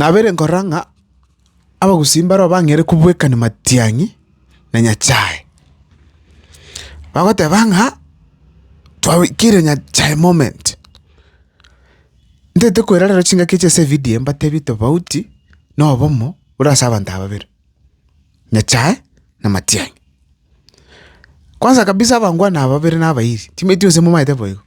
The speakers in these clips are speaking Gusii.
Nabeire nkorora ng'a abagusii mbarabwo bang'eire kobwekania matiang'i na Nyasae, bagoteba ng'a twabekire Nyasae moment. Ntete koirareria chingaki echi ase evidio eye mbatebi tofauti na obomo bore ase abanto aba babere. nyachae na matiang'i. Kwanza kabisa abangwana aba babere na abairi timanyeti gose momaete bo igo,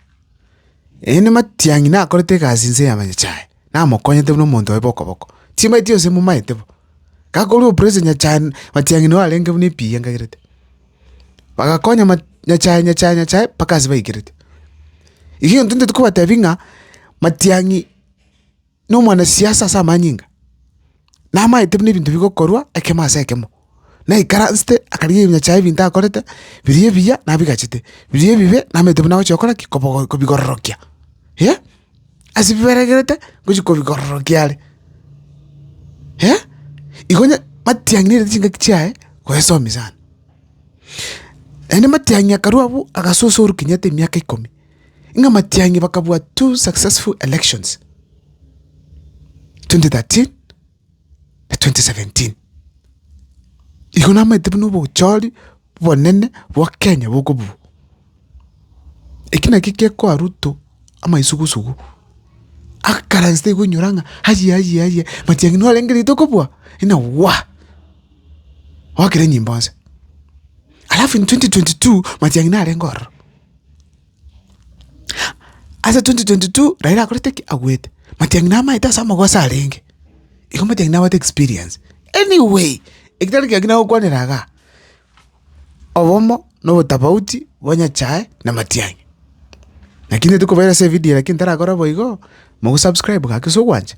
eende matiang'i nakorete egasi nse ya nyachae namokonyete buna omonto oye bokoboko, timanyeti gose momaete bo. Gakorwa operation nyachae matiang'i nabo arenge buna epiiga nkagerete. Bagakonya ma nyachae nyachae nyachae mpaka ase baikerete. Egento ntete kobatebia ng'a matiang'i. nomwanasiasa ase amanyinga, namaete buna ebinto bigokorwa ekemo ase ekemo. Naikaransete akarigia ebinywa chiaye ebinto akorete, biria ebiya nabigachete, biria ebibe namaete buna agochia gokora ki? Kobogo kobigororokia. Eh, ase biberegerete ngochia kobigororokia are. Eh, igo onye matiang'i nairete chingaki chiaye goesomi sana. Naende matiang'i akarwa abwo agasoso orwa kenyatta emiaka ikomi. ng'a amatiang'i bakabua two successful elections, 2013 na 2017. Igo namaete buna obochori bonene bwa Kenya bokobua. Eki naki gekoa Ruto amaisugusugu, akaransete igo oinyora ng'a aye aye aye matiang'i norengereite okobua ng'a waa! Oakire nyimbo nse. Alafu in 2022 matiang'i narenge ororo. Ase twenty twenty two Raila akorete ki? Agwete. Matiang'i namaete ase amagoso arenge, igo Matiang'i nabwate experience. Any way, eki tari kiagera gokwanera igaa, obomo na obotafauti bwa Nyachae na Matiang'i. Naki intwe tokobaira ase evidio lakini tarakora boigo, mogo subscribe gaki ase ogwancha,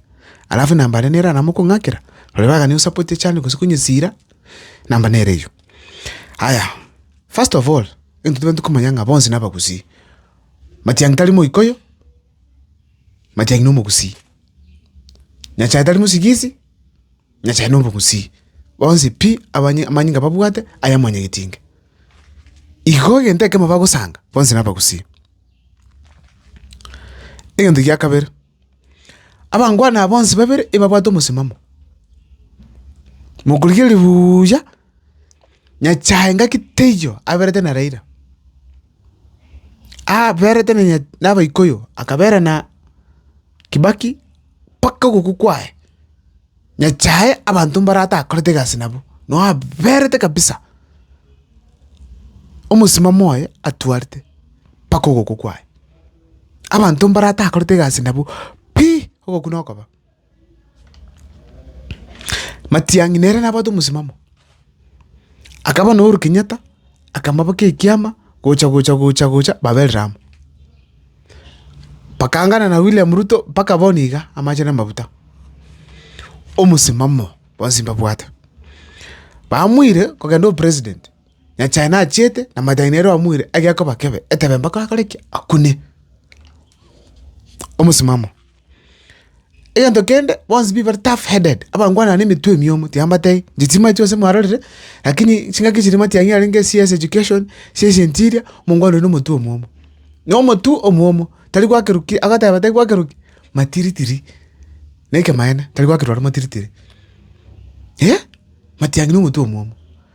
alafu namba are nere namo okong'akera, roria bagani gosapotia channel gose konyesira, namba nere eywo. Aya. First of all, intwe tibwenereti komanya ng'a bonsi nabagusii. Matiang'i tari Moikuyu, Matiang'i nomogusii. Nyasae tari mosigisi, Nyasae nomogusii. Bonsi pi abanye amanyinga babwate aya mwanyagetinga. Igo egento ekemo bagosanga, bonsi nabagusii. Egento gia kabere. Abangwana aba bonsi babere ebabwate omosimamo. Mokorigereria buuya, nyasae ngaki teiyo aberete na Raila, aberete na nya- na abaikoyo, akabera na Kibaki mpaka ogokwa kwaye, nyasae abanto mbare atakorete egasi nabo, nao aberete kabisa, omosimamo oye atwarete mpaka ogokwa kwaye. abanto mbaratakorete egasi nabo pi ogokuna okoba. Matiang'i nere nabwate omosimamo, akaba na Uhuru Kenyatta akamabaka ekiama gocha gocha gocha gocha baberire amo. Bakaangana na William Ruto mpaka bono iga amache na amabuta, omosimamo bonsi mbabwate. Bamoire kogenda opresident. Nyasae nachiete, na Mataiyo nere oamoire egekoba kebe, etebe mpaka akore ki? Akune. Omosimamo. Egento kende, bonsi mbibe bare tough headed, abangwana nemetwe emiomo, tiambatebia, inche chimache gose mwarorire, lakini chingaki chiria matiang'i arenge CS education, CS interior, omongwana oria na omotwe omwomo. Na omotwe omwomo, tari gwakerwa ki? Agoteba tari gwakerwa ki? Matiritiri. Na ekemaene, tari gwakerwa are matiritiri. Matiang'i na omotwe omwomo.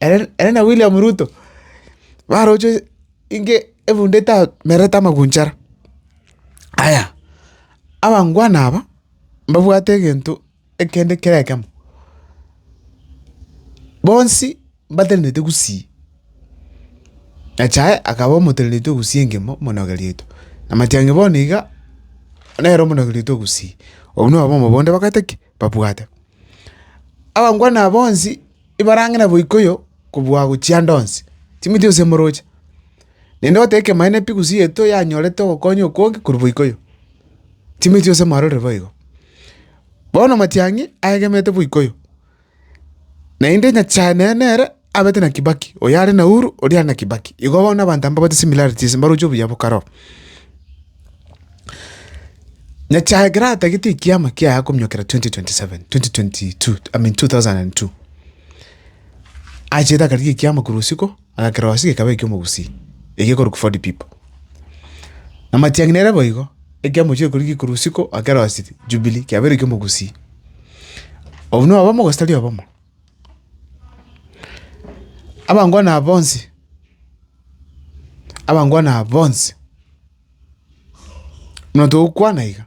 Ere na William Ruto baroche inge ebunde etamerete amagunchara. Aya, abangwana aba mbabwate egento ekende kera ekemo, bonsi mbatenenete gusii. Nyasae akaba omoteneneti o gusii engima omonogeriotwe. Na matiang'i bono iga nere omonogeriote o gusii. Obwo nabwo obombe bonde bagwete ki? babwate. Abangwana aba bonsi ibarang'ina boikoyo kobua gochia ande onsi, timwetia gose moroche. Naende goteba ekemanyeto epigus yaito yanyorete ogokonya okonge korwa boikoyo, timwetia gose mwarorire boigo. Bono matiang'i aegemete boikoyo. Naende Nyasae nere nere abete na Kibaki, oyo are na Uhuru, oria are na Kibaki. Igo bono abanto aba mbabate similarities, mbaroche obuya bo kare oo. Nyasae ekero atagete ekiama kiaye akominyokera 2027, 2022, I mean 2002, achete akarigia ekiama korwa isiko. Aka kerosi gekaba eki'omogusii, egekorokwa forty pipo. Na matiang'ina ere boigo, ekiamo chi'okoria gikorwa usiku aka kerosi Jubilee kiabeire eki'omogusii. Obonui obomo gose tari obomo? Abangwana aba bonsi, abangwana aba bonsi, buna togokwana iga.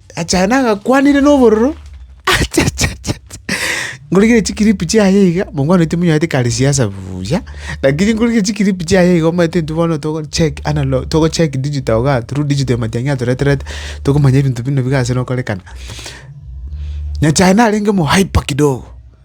Achayane agakwanire nobororo, Nkorigereria chikiripu chiaye iga, mokwana oito monywanete kare siasa buya, lakini nkorigereria chikiripu chiaye iga omanyete intwe bono togo check analo togo check digital igaa through digital ematiang'i atoreterete, tokomanya ebinto buna biga ase nokorekana. Nyasaye narenge omo hyper kidogo.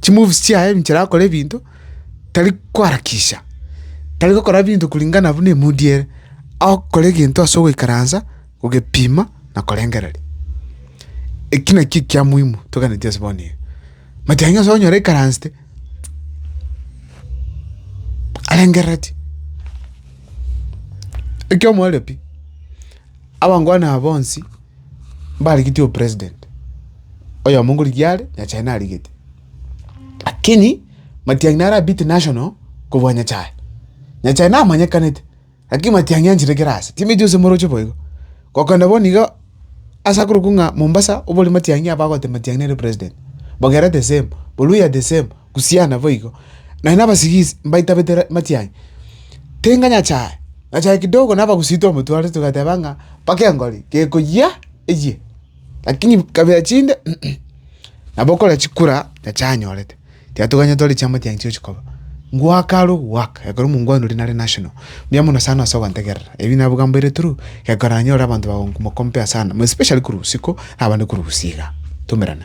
chimoves chiaye ebichera agokora ebinto, tari koharakisha, tari gokora ebinto kuringana buna emood ere, agokora egento ase ogoikaransa, kogepima na korengereria. Eki nakio ekia muhimu toganeti ase bono iga. Matianga nonye ase okonyora aikaransete arengereretie, ekio omoerio pi. Abankwani aba bonsi mbarigetie opresident, oyomo ngorigia are, Nyasae narigete. Lakini Matiang'i nare abete national kobua Nyasae. Nyasae namanyekanete, lakini Matiang'i anchire kera ase, timanyeti gose moroche boigo. Gokenda bono iga ase akorokwa ng'a Mombasa, obore Matiang'i abagote Matiang'i nere president. Bogeera the same, Boluya the same, Gusii naboigo, nanye nabasigisi mbaitabete amache aye. Tenga nyachae, nyachae kidogo nabagusie twamotware togateba ng'a mpaka engori gekoyia eyie, lakini kabira chinde nabo okore chikura nyachae anyorete. Tiatoganyete ore chiamate aye nchiochi koba. Ngwaka are ogwaka ekero omongwanire nare national. Mbuya mono sana ase ogontegerera. Ebi nabogambeire through ekero nanyore abanto bagomokompea sana more especially korwa usiku abande korwa gusii igaa. Tumerane.